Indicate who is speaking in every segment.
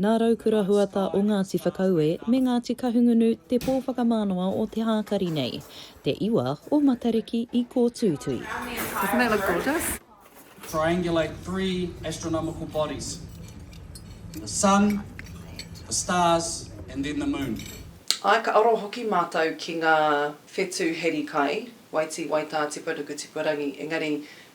Speaker 1: Nā
Speaker 2: Raukura Huata o Ngāti Whakaue me Ngāti Kahungunu te pō whakamānawa o te hākari nei, te iwa o Matariki i kōtuitui. Doesn't that look
Speaker 3: gorgeous? Triangulate
Speaker 1: three astronomical bodies, the Sun, the stars and then the Moon. Āe, ka aro
Speaker 4: hoki mātou ki ngā whetū heri kai, waitī, waitā, tipa ruku, tipa rangi, engari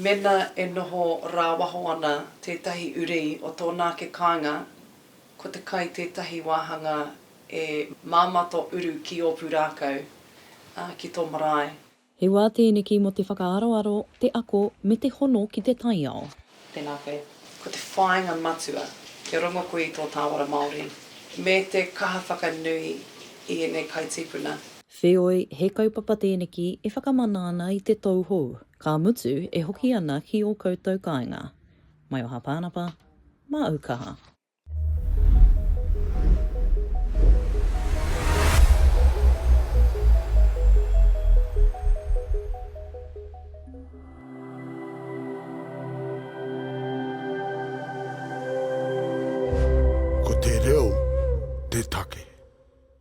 Speaker 2: Mena e
Speaker 4: noho rāwaho ana tētahi uri o tōna ake kāinga, ko te kai tētahi wāhanga e māmā tō uru ki ō pūrākau, ā, ki tō marae. He wā tēneki
Speaker 2: mō te whakaaroaro, te ako, me te hono ki te taiao. Tēnā koe.
Speaker 4: Ko te whāinga matua, kia rongo koe i tō tāwara Māori, me te kaha whakanui i ēnei kai tīpuna. Wheoi, he
Speaker 2: kaupapa tēneki e whakamana ana i te tauhou. Ka mutu e hoki ana ki o koutou kainga. Maioha Panapa, ma au kaha.
Speaker 5: Ko te reo te take.